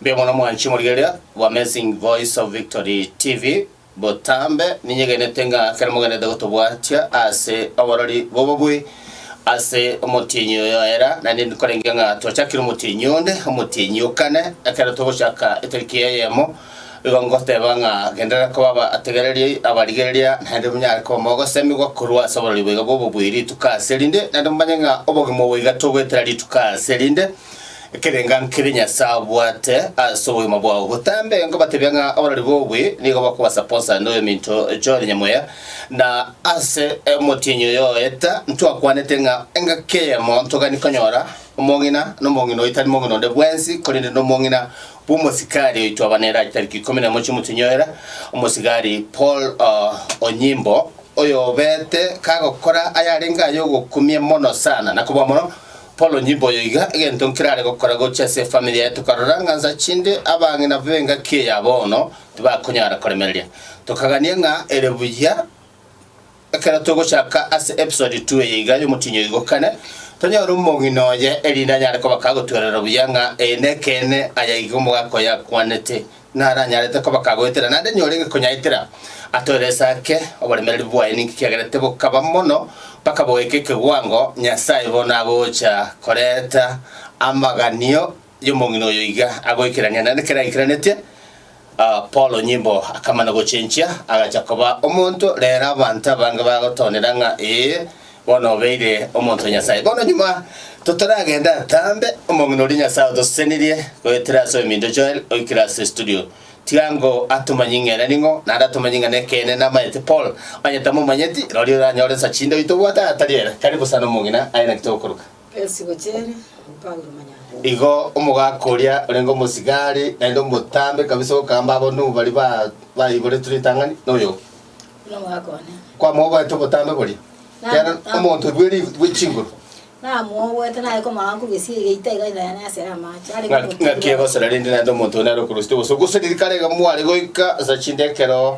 Mbuya mono mwanchi morigeria wa Amazing Voice of Victory TV botambe ninyegenete ng'a kere mogenete gotobwatia ase oborori bobobwe ase omotienyi oyo era naende nkorenge ng'a twachakire omotienyi onde omotienyi okane ekero togochaka etariki eyemo Igo ngoteeba ng'a genderera koba abategereria abarigereria, naende monyare koba mogosemigwa korwa ase oborori boiga bw'obobui rituko ase erinde, naende momanye ng'a obogima obo iga togoetera rituko ase erinde. Ekerenga nkere Nyasae abwate ase obogima bwao. Botambe nkobatebia ng'a oborori bw'obobui nigo bokobasapoosa inde oyominto Joel Nyamuya, na ase omotienyi oyo oeta, ntwakwanete ng'a engaki eyemo ntogani konyora, omong'ina, na omong'ina oyio tari mong'ina onde bwensi, korende nomong'ina bw'omosikari oitwa Abaneraj tariki ikomi na emo chi'omotinyoera, omosigari Paul Onyimbo, oyobete kagokora ayarenge ay'ogokumia mono sana. Na kobua mono, Paul Onyimbo oyo iga egento nkerare gokora gochia ase efamiri yaye tokarora ng'a nsa chinde abang'ina b'engaki eya bono tibakonyara koremereria. Tokagania ng'a ere buya Ekero togochaka ase episode two eye iga y'Omotienyi Oigokane, tonyore omong'ina oye, erinde anyare kobaka agotwerera buya ng'a ee nekeene aya iga omogaka oye akwanete, naranyarete kobaka agoetera, naende niye orenge konyaetera. Atoerese ake oboremereri bwaye ninki kiagerete bokaba mono mpaka bogaika ekeguango Nyasae bono agocha koreta amaganio Y'omong'ina oyo iga agoikerania nere ekero aikeranetie Paulo nyimbo, akamana gochenchia, agacha koba omonto. Reero abanto abange bagotoonera ng'a, Ee, bono obeire omonto o Nyasae. Bono nyuma totaragenda ntambe, omong'ina oria Nyasae otosesenirie goetera ase oeminto Joel, oikire ase estudio. Tiga ngo atomanyie ng'ere ning'o, naende atomanyie ng'a nekeene namaete Paul. Onye tamomanyeti, roria oranyore nsa chinde oitobwate aye atari ere. Karibu sana omong'ina, aye naki togokoroka. Ense gochera mpango emonyano. Igo omogaka oria orenge omosigari naende omotambe kabisa okamba abonui baria baiboretwe ritang'ani noyo Buna omogaka one. kwamoboete obotambe boria, ekiagera omonto oibwe erifu bwe chinguru Namoboete naye komorora nkobesie egeita iga inaya naye asere amache. Arenge ng'a- ng'aki omoturi egosera rende naende omonto oyo nare okorwa osetwe gose gose rikarege mware goika ase chinde ekero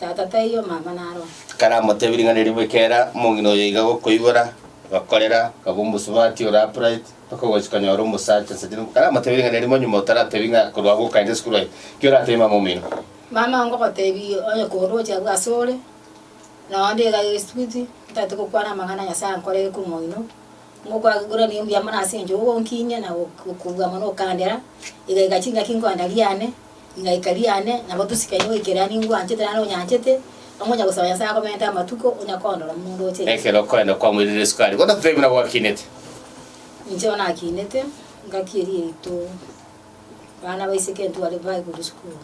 Tata taiyo, omama naro one. Ekero amotebie ring'ana erio, bwekera omong'ina oyo iga gokoibora, agakorera, akaba omosubati ore upright, mpaka ogochia konyora omosacha inse tindi. Ekero amotebie ring'ana erio, monyuma otaratebie ng'a korwa agwo okaenda esukuru aye, ki oratebie mama omino? Mama oo ngogotebia, onye koroche abwo ase ore, na onde iga esubiti, ntaete gokwana amang'ana Nyasae ankorere korwa omong'ina oo, ngokwagiguranie ombuya mono ase engencho ogonkinyia na gokobua mono okandera, iga iga chingaki nkoenda riane. Rigaika riane, nabo tosikaine goikerera ning'o oanchete naende onyanchete, amo onyagosaba Nyasae akomente amatuko, onyakoondora omonto oche inche. Ekero okoenda kwamoirire esukari, bono totebi nabo akinete. Inche bono akinete, ngaki eria yaito abana baiseke ntware bae korwa esukuru.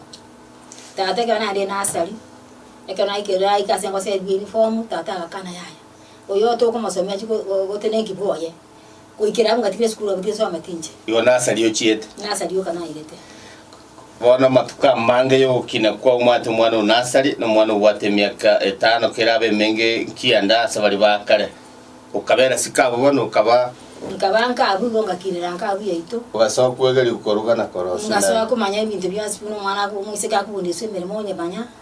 Tata ekero narenge nasari, ekero naikire aike ase engoseriwa uniform, tata agakana yaya, oyo tokomosomia chiko gotenenki bwoye. Goikera agwo ngatiga esukuru agwo tibesao amatinche. Igo nasa riochiete. Nasa rioka nairete. Bono amatuko amange y'ogokina kwao mwate omwana o nasari na omwana obwate emiaka etano kera abe emenge nkiya nda ase baria ba kare. Okabera siko abwo bono okaba. Nkaba nkabu igo ngakirera nkabu yaito. Ogasoa kwegeria koruga na korosia naye. Ngasoa komanya ebinto bionsi buna omwana akoba omoiseke akogondesia emeremo onyemanya.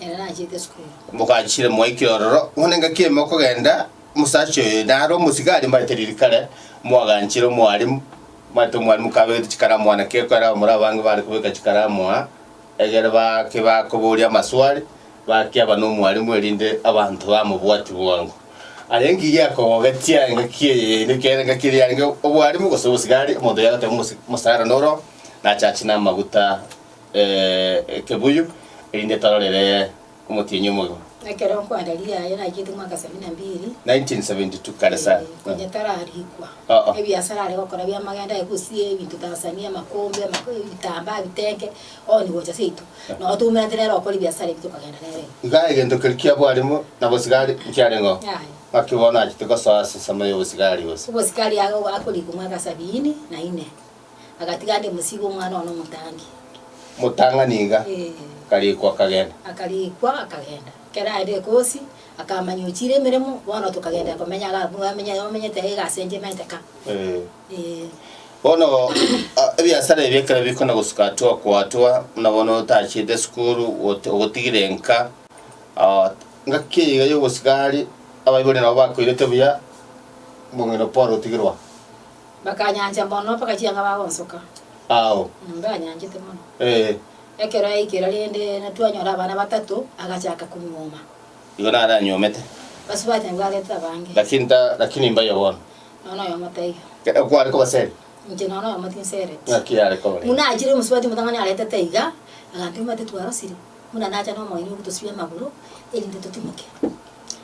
Ere nachiete esukuru. Moganchire moike ororo, ng'one ngaki ime okogenda, omosacha oyo nare omosigari mbarete ririkare, moaganchire omwalimu, mwarete omwalimu kabegete chikaramu aa, naki ekero abamura abange bare kobeka chikaramu aa, egere bake bakoboria amaswali, bakiaba nomwalimu erinde abanto bamobwati bwango. Aye engiya ekogogetie aye ngaki eye yaino ekiagera engaki eria yarenge obwalimu gose obosigari, omonto oyagoteba omosi- omosara noro, nachachi namaguta. ekebuyu, erinde tororere omotienyi omobe. Ekero nkwanda riaye naikete mwaka sabini na mbiri. 1972 kare sa. Ee, konya tararikwa. Oh, oh. Ebiasara are gokora bia magendo aye gosia ebinto Tanzania, amakombe, amako- ebitambaa, ebitenge, onye gocha seito. Nabo twaumerete nere okora ebiasara ebio tokagenda nere. Iga egento keria kia bwalimu na bosigari nkiarenge oo. Aye. Naki bono achete gosoa ase ensemo ya obosigari gose. Obosikari ago akorikwa mwaka sabini na ine. agatiga ande mosigo omwana one omotangi. Motang'a niga. Ee. Akarikwa akagenda. Akarikwa akagenda. Ekero aende egosi, akamanya ochire emeremo, bono tokagenderia komenya iga abwo omenye omenyete iga iga as'enche emanyete ka. Ee. Ee. Bono ebiasara ebi ekero bikona gosuka twa kwatua buna bono otachete esukuru goto ogotigire enka ngaki eye iga y'obosigari abaibori nabo bakoirete buya, Mong'ina Paul otigirwa. Bakanyancha mono mpaka chianga bagonsoka. Ao. Mbanyanchete mono. Ee. Ekero yaikera rende na twanyora abana batato, agachaka konyuoma. Igo nare anyuomete. Basubati na bwagete abange. Lakini ta, lakini mbayo bono. Nonya noyomo taiyo. Ekero kware koba seri. Inche nonya noyomo tinsereti. Ng'aki yare koba ere? Buna achire omosubati omotang'ani aretete iga, agantebia, Omanyete twarosire, buna nacha nomoini ogotosibia amagoro, erinde totimoke.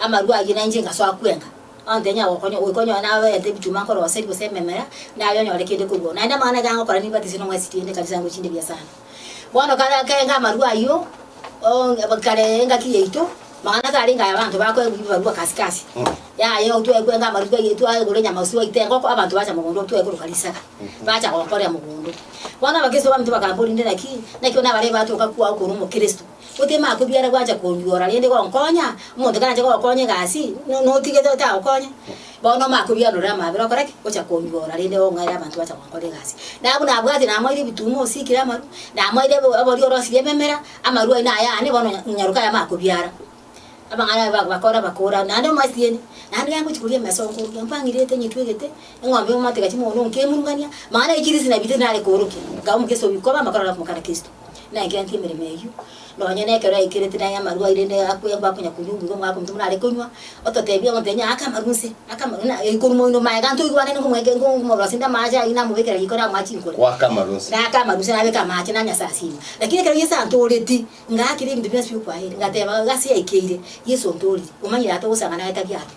Amarwa ayio nainche ngasoa kwenka, onte inyare gokonya, goika onyore naye oete ebituma akore oboseri gose ememera, naye onyore kende korwa oo. Naende amang'ana ake agokora nimbatisie nomwesibie inde ekanisa yango chinde bia sana. Bono kare akenga amarwa ayio, oo aba kare engaki yaito, mang'ana tarenge aya abanto bakoegwa ebibarua kasi kasi, yaya igo twae kwenga amarwa ayio twaegora enyama gose twaita engoko abanto bacha mogondo twae koroka risaga, bacha gokorera mogondo. Bono abakristo baminto bakambora inde naki, naki onye nabarebe batoka kwao korwa omokristo. Otema ako biara gwancha konywora rende gonkonya, omonto karanche gokonya egasi, no- notigete otagokonya, bono ome akobianorere amabera okore ki? Ocha konywora rende ong'aere abanto bacha gonkora egasi. Nabwo nabwate namoire ebituma osikire amaru, namoire ebe ebori orosirie ememera, amaru aino naye aane bono onya onyaroka ayamo akobiara. Abang'aini aba bak- bakore bakora naende omwasieni, naende rero ngochia koria emeso nkoruga mpang'iriete ng'itwegete, eng'ombe omotega ching'ono nkemurungania, mambia naye chirisi nabitete nare koorokia, nkaba omoke sobi koba amakorero akomokana Kristo. Naegenti emeremo eyio, nonya nekero yaikeretie naye amarwa aire inde yakwengwa akonya konywa obuya omwaka omochie buna are konywa, ototebie omonto onye ake amarwa nse, ake amarwa na ekorwa moino maega nto oigwane na omweke ngo omorosi inde amache ayio namobekera riko namoa chinkoro. Goaka amarwa nse. Naaka amarwa nse nabeka amache nanywa ase asima. Lakini ekero Yeso antoreti, ngaakire ebinto bionsi biokwayire, ngateba, Gasi yaikeire, Yeso ontoriri, omanyire ata ogosangana aye tari ake.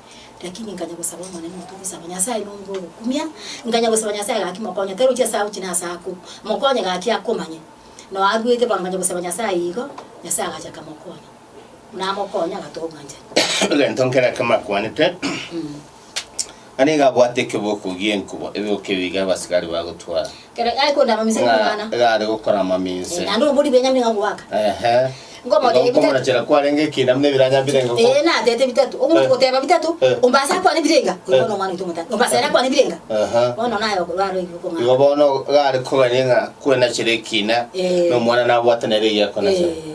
Lakini nkanya gosaba Omonene oto gosaba Nyasae nonge ogokumia, nkanya gosaba Nyasae gaki mokonye, tari gochia ase agochi na ase akwo, mokonye gaki akomanye. Nao arwete bwango nkanya gosaba Nyasae igo, Nyasae agacha akamokonya. Buna amokonya agatoa obwanchani. Egento nkere ekemo akwanete, naende iga abwate ekeboko gie nkubo, ebeboko ebi iga abasigari bagotwara. ng'a iga are gokora amaminse. Ehe. Igo nkomorachera kwarenge ekina buna ebiranya birenge ko. Aha. Igo bono iga are kogania ng'a kwenachere ekina, na omwana nabwate nere egiakonachere.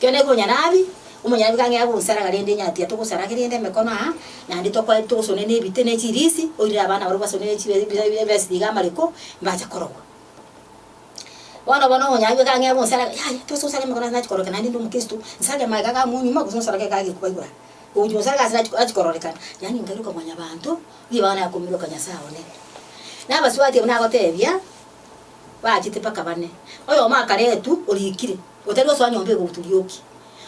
Kera ne konyarabi, omonyarabi kang'ea gosaraga rende nyatiya togosarage rende emekono aa, naende tokwae togosone nebite ne chirisi, oirire abana barabwo basone ne chibe bi- bi- bibesi tiga amariko, mbache korogwa. Bono bono omonyarabi kang'ea gonsaraga, yaya tosa osare emekono ase nachi kororeka naende nde omokristo, nsarage amaega iga amonyuma gose nsarage iga agekuba igoro aa. Ogochi gonsaraga ase nachi nachi kororekana, yaani nkairoka mwanyabanto, nigo bono nakomiroka Nyasae one. Nabasubati abwo nagotebia, bachete mpaka bane. Oyomo akaretwa orikire. Otari osoa nyomba igoro turioki.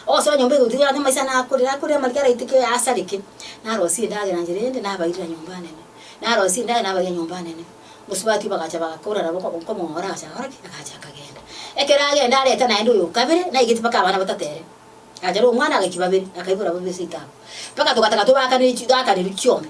Ogosoa nyomba igoro turioki ande maiso nakorire akorire amarike araitike oyasareke narosie endagera nchire ende nabairera nyomba nene. Narosie endagera nabairia nyomba nene. Mosubati bagacha bagakora nabo nkomong'ora agacha agakora ki? Agacha akagenda. Ekero agenda areta naende oyo okabere naigeti mpaka abana batato ere. Agacha ore omwana agaiki babere akaibora babere seito abwo. Mpaka togataka tobakaniri toakaniri chiombe.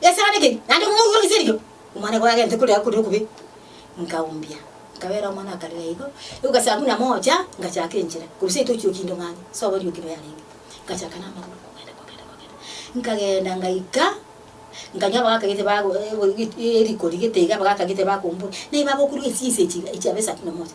Esara neke, naende omouga o riserio, omwana ogo agente kore akure okubi, nkaumbia, nkabeera omwana akarera igo, igo gachaka buna mocha, ngachaaka enchera, korwa seito ochia okinto ng'anya, ase oborio okinto yarenge, ngachaaka namagoro kogenda kogenda kogenda, nkagenda ngaika, nkanyora abagakagete bago eriko rigete iga abagakagete bakombora, naye bagokurwa echise echi chiabo esato na moja.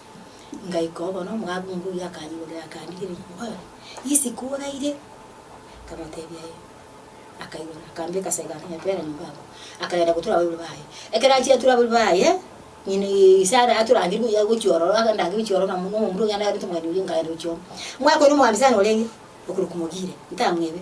Ngaika obono, omogabunga oyio akanyorera, akandigeria, akambora, Isiko oraire? Nkamotebia, Ee. Akaigora, akambeka ase egari, nonya pera nyomba abwo, akagenda gotura abaibori baye. Ekero achire atura abaibori baye, ng'ina Sara aturangire buya gochia ororo, agandange gochia ororo na na omomura oyio narente omogeni oyio, nkagenda gochia ororo. Mwakwana omogambisani orenge, okorokwa Mogire, ntamwebe.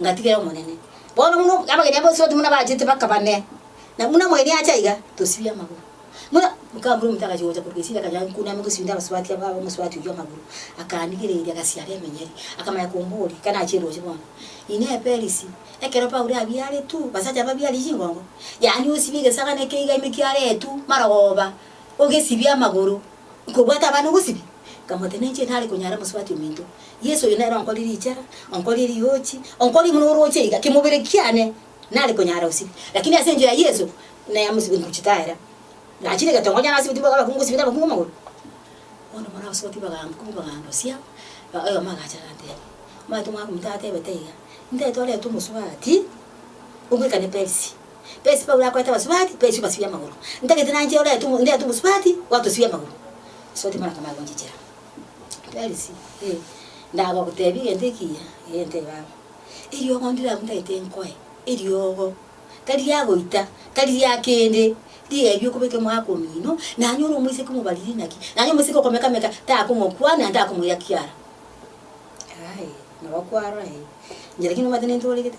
ngatigera Omonene. Bono buna abageni aba Esoti buna bachete bakaba ne, na buna omogeni acha aiga, tosibie amagoro. Buna Gikamburu ominto agachia gocha korwa Gesiri akanya Nkuni amo gosibia abasubati aba aba omosubati oyio amagoro, akaanigereria agasiara emenyeri, akamanya komboria, Ekana achire roche bono? Inee Eperisi, ekero Paulo abiaretwe, basacha babiarie chingongo? Yaani osibie egesaga neke iga ime kiaretwe, marogoba, ogesibie amagoro, Nkobwata abana obosibie, nkamotenenchia inare konyara mosubati ominto. Yeso oyo nere onkori richera, onkori eriochi, onkori buna oroche iga, kimobere kiane nare konyara gosibia. Lakini ase enchera ya Yeso, naya mosibie nkochitaera. Nachire egetongo onye nasibeti boka abakungu ngosibete abakungu amagoro. Bono bono abasubati bagankumi bagandosia, ba oyomo agacha agateba, Omanyete omwana ominto atebete iga, Ntetorete omosubati, obwekane Perisi. Perisi Paulo akorete abasubati, Perisi obasibie amagoro. Ntagete nanche orete ndete omosubati, gwatosibia amagoro. Ase ogotimana koma agonchichera. Perisi, Ee, ndagogotebia egento ekiya, egento eye baba. Eriogo ndire agwo ntagete nkoe, eriogo, tari riagoita, tari ria kende, riebie okobeke omwaka omino, nanyore omoiseke omobariri inaki, nanye omoiseke okomekameka takomokwana na takomoira kiara. Aye, nabo kwarora, ee, inche lakini omanyete nintooregete.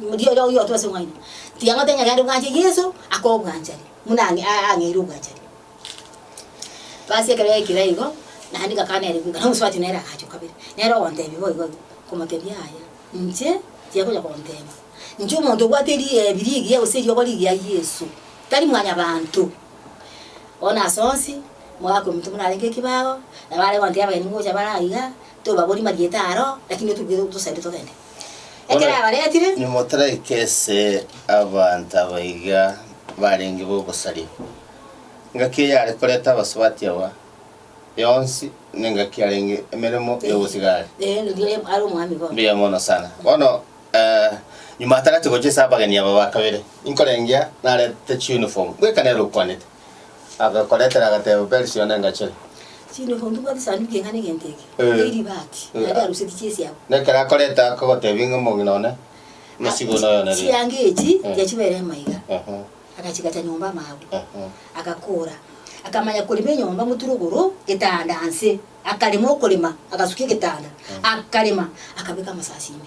Moria oria oyote ase mwaino tiang'ata enyagera ande bwanche Yeso ake obwanchani buna ang'eire obwanchani. Basi ekero yaikire igo, naende ngakana ere bweka, na omosubati nere agacha o kabere, nere ogontebia boigo igo, nkomotebia yaya, inche tiakonya konteba, inche omonto obwate riebi rigiya gose eriogo rigiya Yeso, tari mwanyabanto. Bono ase onsi mogaakwa emetwe morarenge ekebago, nabo are gonteba abagaini ngocha bare aiga, tobabori marieta aro, lakini otubwate tosainde togende. Ekero abaretire. Nimotaraike ase abanto abaiga barenge b'obosaria. Engaki eyare koreta abasubati aba yonsi nengaki yarenge emeremo y'obosigari. Ee, riria oye are omwami bono. Mbuya mono sana. Bono eh, nyuma atagete gochia ase abageni aba ba kabere, inkorengea narete chiuniform, bweka nere okwanete. Agakoretera agatebo, Beri sio nengache. Sino ko ntobwate esanduku eye ng'ane egento eke, Eh. ne eribati, Eh. naende aruseti chiesi abo. Na ekero akoreta akagotebia ng'a omong'ina one, emesigo noyo nere. Chianga echi Eh. tiga chibere amaiga. Ehe, Agachigacha nyomba amaabu. ehe. Agakora. Akamanya korema enyomba moturo igoro, getanda nse. Akarema okorema, agasukia egetanda. Akarema, akabeka amasasi ime.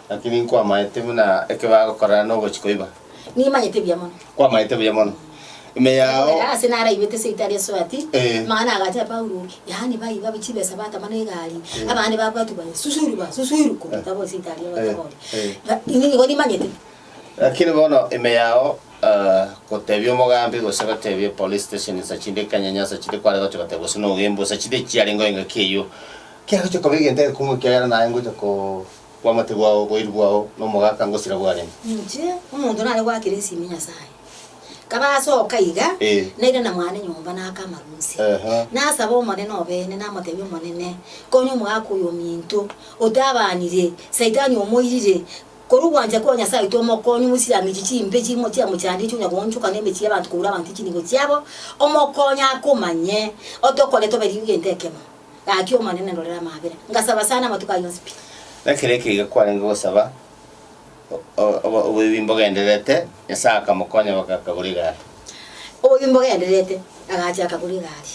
Naki ninkwamaete buna ekebe agokorana nogochi koiba. Nimanyete buya mono. Kwamaete buya mono. Ime yao. Ekorera ase naraibete eseito aria Soati, Eh. Mang'ana agacha Paulo, yaani baiba chibesa batama na egari, abande babwatwa baye susuiru ba susuiru kobeka bo eseito aria Eh. batogori. Eh. Ba- Inwe nigo nimanyete. Lakini bono ime yao eh, gotebia omogambi gose gotebia police station nsa chinde ekianyanya nsa chinde kware gocha goteba gose nogembu nsa chinde chiarenge engaki eyio kiagocha koba egento egekumu ekiagera naye ngocha ko Bwamate bwao, oboiri bwao, na omogaka ngosira bwarenge. Inche, omonto nare goakera esimi Nyasae, nkaba ase oka iga, Ee. naira na mwane nyomba naaka amarunse. Ehe. Nasaba Omonene obeene, namotebia, Omonene, konya omogaka oyo ominto, otabaanire, Saitani omoirire, korwa ogwancha kwa Nyasae oito omokonye omoisire amiche chimbe chimo chiamochandire chionya goonchoka na emechie y'abanto koura abanto chinibo chiabo, omokonye akomanye, otokorete obe riuga ente ekemo. Gaki, Omonene, ndorera amaabera, ngasaba sana amatuko ayio onsi pi. Ekero ekiagera kwarenge gosaba oboibi mbogendererete, Nyasae akamokonya goka akagora egari. Oboibi mbogendererete, agachia akagora egari.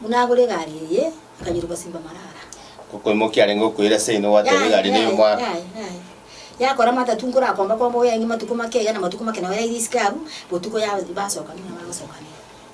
Buna agora egari eye, akanyiroka gosimba marara. Okoimokia arenge okoira ase ino gwateba egari ne y'omwaka. Yakora matatu nkorakomba komba oyaenge matuko make eya na matuko make naye yaira isiko aru botuko ya basoka buna bagosoka ne.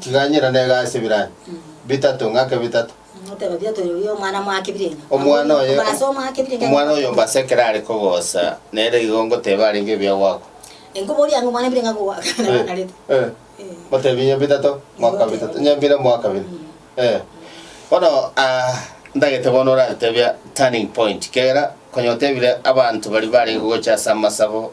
Tiga ng'ina nega ase ebiranya bitato, ng'ake bitato. Oteba biato ere oyo omwana mwake birenga. Omwana oye, Oba ase omwake birenga. omwana oye omba ase ekero are kogosa, nere igo ngoteba arenge ebiya gwakwa. Enkoboria ng'a omwana birenga ko gwaka nabo akarete. Eh, Eh. Otebi onye bitato, mwaka Nigo bitato, oteba. onye bire mwaka bire. Mm. Eh. Bono ah, ndagete bono oratebia turning point, kiagera konya otebire abanto baria barenge gocha ase amasabo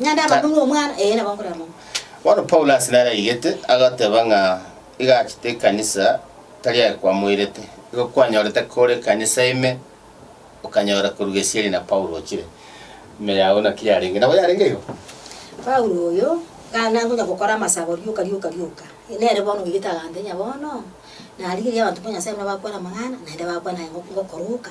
Naende amakong'u y'Omwana, ee, nabo nkorera mono. Bono Paulo ase nare aigete, agateba ng'a iga achete ekanisa tari aye kwamoirete. Igo kwanyorete kore ekanisa ime, okanyora korwa gesieri na Paulo ochire. Ime yao naki yarenge? Nabo yarenge igo. Paulo oyo, kare nare konya gokora amasabo rioka rioka rioka, nere bono oigete agantenya bono, narigereria abanto ba Nyasae buna bakwana amang'ana, naende bakwana aye ngo- ngokoroka.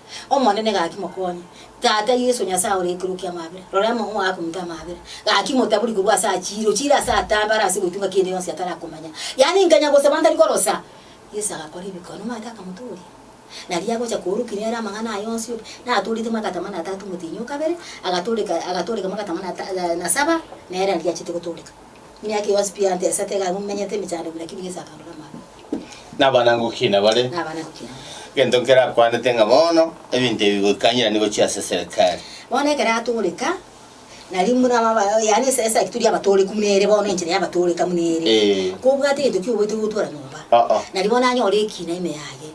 Omonene gaki mokonye. Tata, Yeso Nyasae ore igoro okia amabera, rora amang'u aya akominta amabera, gaki motabori korwa ase achiire, ochiire ase atambare ase goitunga kende yonsi atarakomanya. Yaani nkanya gosaba ntari korosa. Yeso agakora ebikone, omanyete akamotooria. Nario agocha koorokinia ere amang'ana aya onsi obi, natoorete magata amane atato omotienyi o kabere, agatooreka, agatooreka magata amane ata, na saba, nere naria achete gotooreka. Emiaka yonsi pi Ante esete iga momenyete emechando buna kibiga ase akando namaro. Nabanango ki nabare? Nabanango ki nabare? Egento nkerakwanete ng'a bono ebinto ebi goikanyerani gochia ase Serikali. Bono ekero atooreka, nari buna baba, yaani ase esegi turi abatooreku buna ere bono, enchera y'abatooreka buna ere. Ee. Kobwate egento ki oboete gotwara nyomba? Oo. Nari bono anyore ekina ime yaye,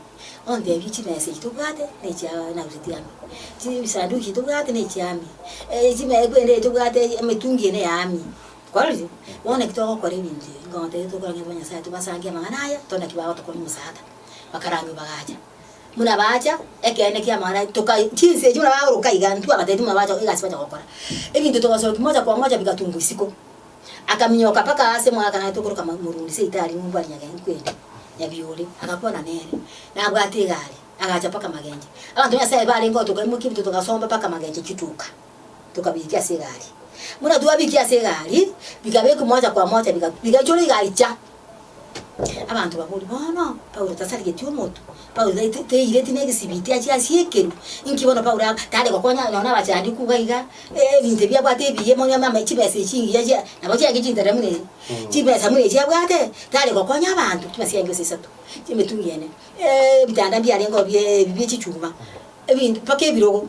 ontebie chimesa echi tobwate nechia narusetie ame, chibisanduki echi tobwate nechia ame, eeh chimea ekwende eyo tobwate emetungi eye neya ame. Twarorire, bono naki togokora ebinto ebi, inkonto eye tokorang'e ntwe banyasae, tobasangie amang'ana aya, tore naki bagotokonya omosaata. Bakarangio bagacha. Buna baacha, ekeene ki'amang'ana aye toka chinse echi buna baoroka iga, intwe abatebi buna bacha egasi bacha gokora, ebinto togasokia mocha kwa mocha bigatungwa isiko. Akaminyoka mpaka aase mwaka naye tokoroka ma morundi se itaari ng'umbu aria nyagento kweri, Nyabiore, agakwana nere, nabwate egari, agacha mpaka Magenche. Abanto ba Nyasaye barenge gotoka imokia ebinto togasomba mpaka Magenche chituka. tokabiikia ase egari. Buna twabiikia ase egari, bikabekwa moja kwa moja, biga, bigaichora igaicha. Abanto baboria, Bono Paulo tasarigetie omotu? Paulo tai, tai, taireti negesibiti achie asiekerwe? Inki bono Paulo aba, tare gokonya nonya abachandikwa iga iga, eh, ebinto ebi abwate ebiya mono ama, ama chibesa echi chingiya chia, nabo chiaye chintera buna echi, chibesa buna echi abwate, tare gokonya abanto, chibesa chiaye chionsi isato, chia emetungi ene, eh, ebitanda mbiarengeo bie, ebi bie chichuma, ebinto mpaka ebirogo.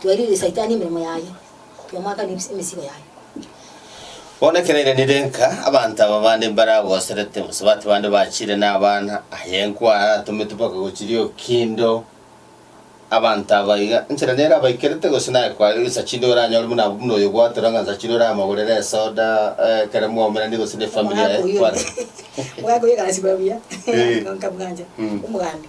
Twairirie Saitani emeremo yaye, Twamoakana emesigo yaye. Bono ekero ere nere enka, abanto aba bande mbaragoserete, gose bato bande bachire nabana, aye enku aratometwe mpaka gochiria okindo abanto aba iga, enchera nere abaikerete, gose naye kware gesa chinde oranyore buna abwo, buna oyo gwatora ng'a gesa chinde oramogorere esoda, eh, ekero mwaumeranirie gose ne efamiri Omogaka yaye oyio, kware. omogaka oyio agasiba buya, Eh. nkamwancha, Mm. omogambi.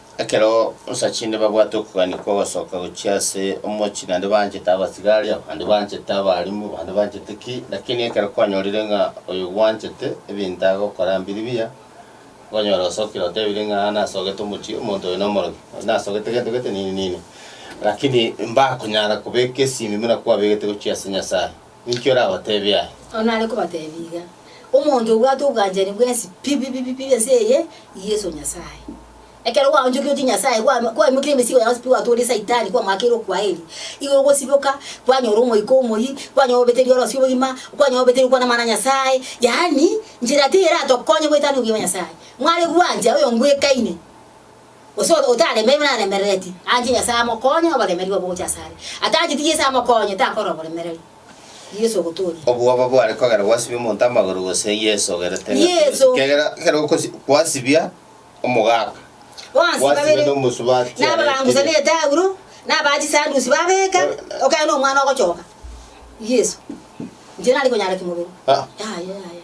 Ekero osacha inde babwate okogania kw'ogosoka gochia ase omochie, naende banchete abasigaria, abande banchete abarimu, abande banchete ki, lakini ekero kwanyorire ng'a oyo gwanchete, ebinto agokora mbiri biya, okonyora osokire otebire ng'a aa nasogete omochie, omonto oyo nomorogi, oyo nasogete gento gete nini nini, lakini mbakonyara kobeka esimi buna kwabegete gochia ase Nyasaye. Ninki orabateebie aya? Onde nare kobateebia iga, Omonto obwate obwanchani bwensi pi pi pi pi ense eye, Yeso Nyasae. Ekero gwaonchokia otie Nyasae, gwa- gwaimokia emesigo ya onsi pi gwatooria Saitani, kwamoakeire okwaeri, igoro gosiboka, kwanyora Omoika Omoyia, kwanyora obeteiri orosio obogima, kwanyora obeteiri okwana Amang'ana a Nyasae, yaani, nchera teiyo eratokonye goetania obwiya bwa Nyasae. Mware gwancha oyongwekaine. Gose otaremeirwe naremerereti, anche Nyasae amokonye oboremeria obwo gocha asare. Atancheti Yeso amokonye, takora oboremereri. Yeso ogotooria. Obwoba bware kogera gwasibia omonto amagoro gose Yeso ogerete ng'a Yeso. tibosibie, egera ekero okosi kwasibia omogaka, Bonsi gwasibia babere nomosubati are nababangusa na ekiria. etaulo, na abaa chisandusi babeka, okegera na omwana ogochoka. Yeso. Inche nari konyara kimobere. Ah. Yaya yaya.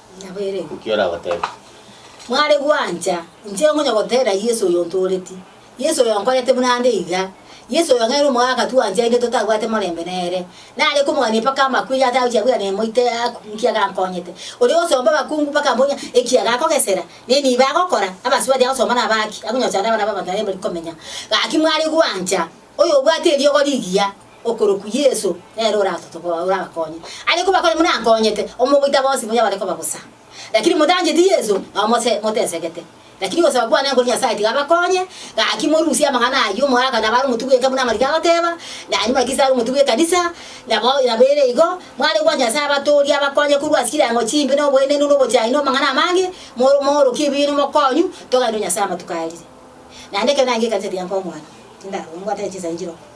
Nki oragoteebia? Mware gwancha inche ngonya goteera Yeso oyo ontooreti, Yeso oyo onkorete buna nde iga, Yeso oyo ng'aire omogaka twancha inde totabwate morembe nere. Nare komogania mpaka amakwe iga atagochia bwira nemoite aku inki agankonyete. Oria ogosomba abakungu mpaka mbonya eki agakogesera, neniba agokora, abasubati agosomba naba aki, akonyocha naende abana b'abanto naende mbari komenya. Gaki mware gwancha oyo obwate eriogo rigiya. Okorokwa Yeso nere orabakonye. Aye kobakonye buna akonyete, omogoita bonsi bonya bare koba bosa. Lakini motacheti Yeso, nao motesegete. Lakini ogosaba kwane nkore Nyasae tiga abakonye, gaki morusie amang'ana ayio omoaka nabo are omotugi bw'enka buna amariko agoteba, na aria Kristo are omotugi bw'ekanisa, nabo ere igo, mware gwancha Nyasae abatoorie abakonye korwa ase chireango chimbe noboenenu nobochani namang'ana amange, moorokie ebibe nomokonyu, toganenerwe Nyasae amatuko arire. Naende ekero narigekanisa tiga nkong'wana, tindara, omonto nabwate chinsa enchiroko.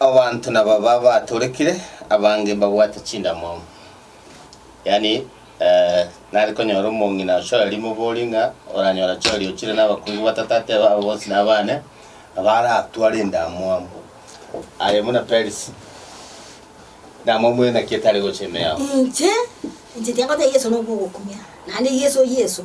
Abanto nababa batorekire, abange mbabwate chindamwamu. Yaani, nare konyora omong'ina ochoeria mobori ng'a oranyora choeria ochire nabakungu batato ateba aba bonsi nabane, abaratware endamwamu. Aye buna Perisi, endamwamu eye naki etare gocha ime yao? Inche, inche tiakotegia Yeso nokwo ogokumia, naende Yeso, Yeso.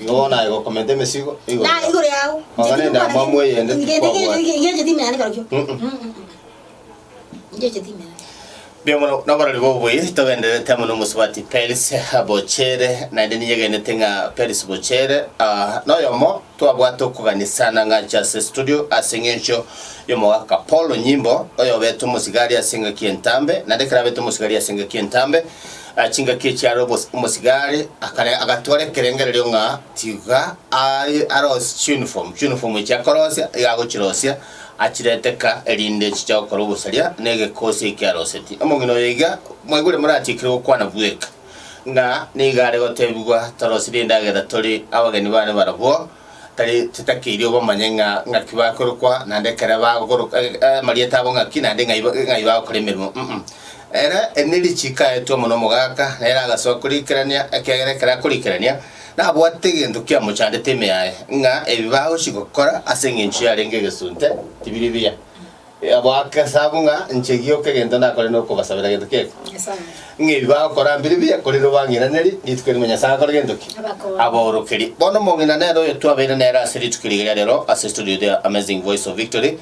Nigo bono aye gokomenta emesigo igoro Na yao. igoro yao. Oga Ncheti nende gokwana amamu eyende nge- nge- tikwabuata. nge- nge- ngecheti imera neka rokio. Mm-mm. Mm, mm, mm. Ngecheti imera. Mbuya mono nabarori bobuya togendererete amo nomosubati Peris Bochere naende ninyegenete ng'a Peris Bochere ah, noyomo twabwate okoganisana ng'a anche ase studio ase eng'encho y'omogaka Paul Onyimbo oyobete omosigari ase engaki entambe naende ekero abete omosigari ase engaki entambe Aya chingaki echiare omosigari akare agatwara ekerengererio ng'a tiga aye arosie chiunifomu, chiunifomu echi akorosia iga agochirosia achirete ka erinde chiche gokora obosaria na egekosi eki arosetie. Omong'ina oyo iga mwaigure moratikerwe gokwana bweka ng'a nigo are gotebigwa torosirie endagera tore abageni bane barabwo, tari titakeiri obamanye ng'a ng'aki bakorokwa, naende ekero bagokoroka amarieta abo ng'aki, naende ng'ai ng'ai bagokora emeremo, mm. Ere ne richiiko aetwe amo n'omogaka, nere agasoa koriikerania, ekiagera ekero akoriikerania, nabwate egento kiamochandete ime yaye, ng'a ebi bagochi gokora ase engencho yarenge egesunte tibiri biya. Bagesa abwo ng'a, Inche gioka egento nakore nokobasabera gento kiaito. Ng'a ebi bagokora mbire biya, korende obang'inanerie rituko erimo Nyasae agakora gento ki? Abaorokerie. Bono omong'ina nere oyo twabeire nere ase rituko rigiya riarero ase studio The Amazing Voice of Victory,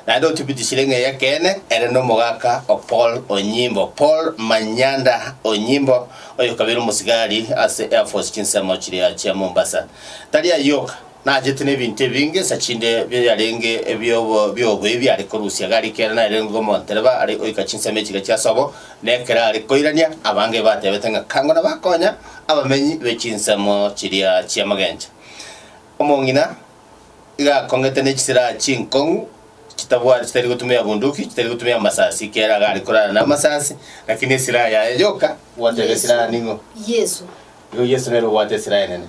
naende otibitishire ng'a ey'ekeene ere nomogaka o Paul Onyimbo, Paul Manyanda Onyimbo, oyokabeire omosigari ase Air Force chinsemo chiria chia Mombasa. Tari ayio oka. Nachete nebinto ebinge nsa chinde biarenge biobobe biare korusia gari ekero narengwe omontereba are oika chinsemo echiga chia sobo, na ekero are koirania abange batebete ng'a kangona bakonya abamenyi be chinsemo chiria chi'amagencha. Omong'ina iga akongete ne chisiraha chinkong'u chitabwati chitari gotumia bunduki, chitari gotumia amasasi ekero iga are korara namasasi, lakini esiraha yaye yoka bwate esiraha ning'o? Yesu. Igo Yesu nere obwate esiraha enene.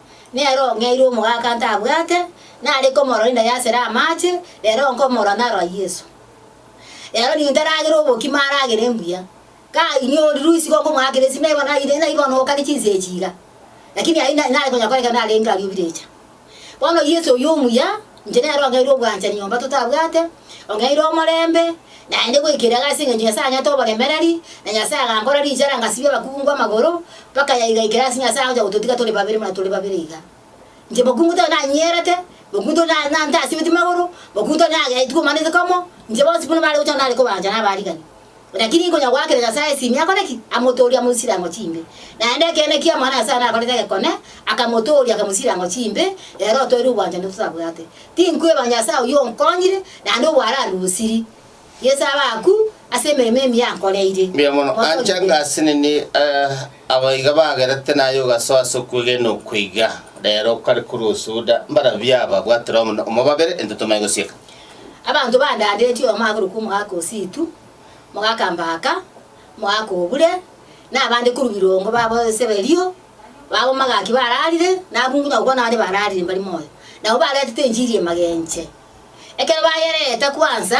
Nere ong'eire omogaka ntabwate nare komorora inda y'asere amache, rero nkomorora narora Yeso. Rero nigo ntaragera obokima aragere mbuya. Kanyiorirwe isiko nkomoakera esime naibo naire naibo nokane chinsa echi iga. Lakini aye nare konya koreka narenge aria obirecha. Bono Yeso oyio omuya. Inche nere ong'aire obwanchani nyomba totabwate, ong'aire omorembe, naende goikera iga ase engencho Nyasae anyete oboremereri, na Nyasae agankora richara ngasibia abakungu amagoro, mpaka yaigaikera ase Nyasae agocha gototiga tore babere buna tore babere iga. Inche mokungu tari nanyierete, mokungu tori na- na- ntasibeti magoro, mokungu tori nageaetigwe manase komo, inche bonsi buna bare gocha nare kobanchana abarigani. Naki ninki onyagoakera Nyasae esimi akore ki? Amotoorie amoisire ang'o chimbe? Naende ekeene ki Omwana o Nyasae nakorete egekone, akamotooria, akamosira ang'o chimbe? Ere otoeire obwanchani ototabwate. Tinkweba Nyasae oyio onkonyire, naende obwararusiri Yeso abe aku ase emeremo emiya ankoreire. Mbuya mono. Motoonye Ancha Yeso. ngase nini eh, aba iga bagerete naye ogasoa ase okwegena okwo iga. Rero okare korwa osuda, mbarabwo aba bwatire omono, omobabere, intwe tomanye gosieka. Abanto bandadetie oyomo akorokwa omogaka o Situ, mogaka Mbaka, mogaka Obure, na abande korwa birongo babo ase bario, b'abamagaki bararire, na abungu na gokwana abande bararire mbari moyo, nabo baretete enchiri y'emagenche. Ekero bayereeta kwansa,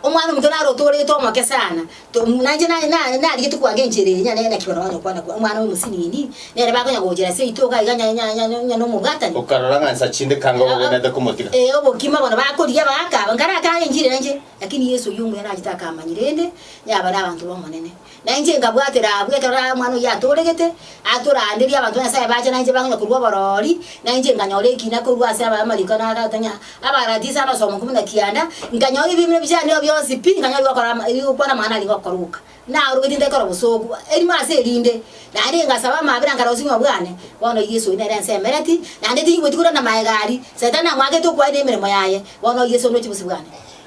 Omwana-o-monto naro otooregete omoke sana. Nainche narigetie koaga enchera eye nyarenge naki barabwo banyare kwana kwo omwana oyomosinini, nere bakonya gochera ase itogo aiga onye nomobwatani. Okarora ng'a nsa chinde kanga obogenete komotiga. Ee, obokima bono bakorigia baaka aba. Nkare akare enchera enche, lakini Yeso oyio omuya nachete akamanya rende, yaba nabanto b'Omonene. Nainche nkabwatera abwo ekero omwana oyio atooregete, Aa toraanderie abanto ba Nyasae baacha nainche bang'ina korwa oborori, nainche nkanyora ekina korwa ase abamariko na agatang'ia, abarati ase abasomoku buna kianda, nkanyora ebiimino bi'chandeo bionsi pi, nkanyora ebigokora ama ebigokwana amang'ana arenge okoroka. Naarobeti ntaikora obosooku erimo ase erinde, naende ngasaba amaabera nkarora obosibimo bwane, bono oyio Yeso oyo nere ense emereti, naende tingigweti korende namaega aria, Saitani namwagete okwaye na emeremo yaye, bono oyio Yeso oroche obosio bwane.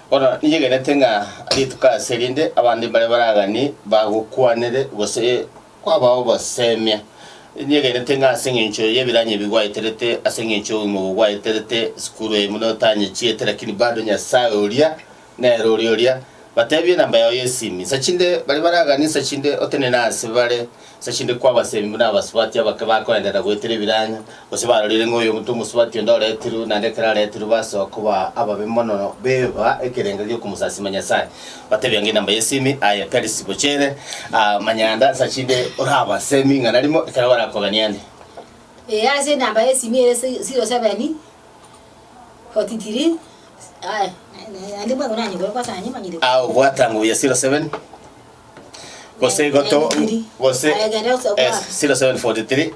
Bono ninyegenete ng'a rituko ase erinde abande mbare baragani bagokwanere, gose Kwabao obosemia. Ninyegenete ng'a ase engencho y'ebiranya ebi gwaeterete, ase engencho y'obogima obo gwaeterete, sikuru eye buna otanyechiete, lakini bado Nyasae oria nere ore oria. Batebie enamba yao y'esimu insa chinde, baria baraganie insa chinde otenene aase bare insa chinde kwabasemi buna abasubati abake bakoenderera goetera ebiranya, Gose barorire ng'a oyomo tomosubati onde oretirwe, naende ekero aretirwe basoa koba ababe mono, beba ekerengo gi'okomosasima Nyasae, batebia ng'a enamba y'esemi, aye Perisi, bochere, aa, manyanda ase chinde oraba ase eming'ana rimo ekero barakogeniane. Ee, ase enamba y'esemi ere si- siro sebeni, foti tiri, aya, naende mwango nanyokore kwasanye manyire. Aa, obwata nguya siro sebeni. gose goto gose eh, 0743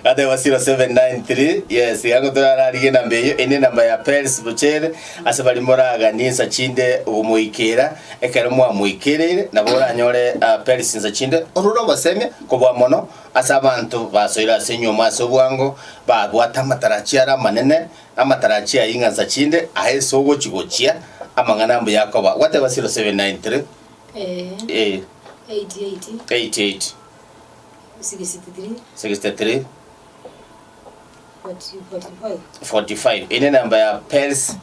ateba 0793 yes yagotorararige namba eyo ene namba ya pels bochere ase bari moragani ensa chinde ogomoikera ekero mwamoikerere nabo oranyore ah, pels ensa chinde orure ogosemia kobwa mono ase abanto basoire ase enyuomo ase obwango babwate amatarachi are amanene Amatarachi a ing'ansa chinde aa ase ogochi-gochia amang'ana a mbuya akoba, gwateba 0793 Ee, eh, 88 63 63 45 45 eye nenamba ya Pels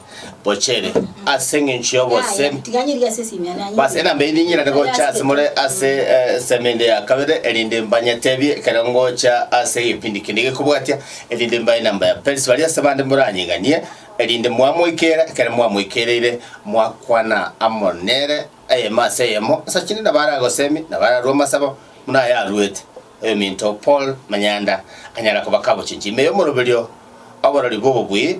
Bochere ase eng'encho y'obosemi Tiganyeria ase esimia nanye. Bas enamba eye ninyirane gocha ase more ase eh, esemo ende ya kabere, erinde mbanyeteebie ekero ngocha ase egepindi kende gekobwatia, erinde mbae namba ya Perisi baria ase bande moranyeganie, erinde mwamoikera ekero mwamoikereire, mwakwana amo nere eyemo ase eyemo, asachinde nabo aragoseemie, nabo ararue amasabo buna aya aruete oyominto Paul Manyanda, anyara kobakabochinchia ime y'omoroberio oborori bw'obobui,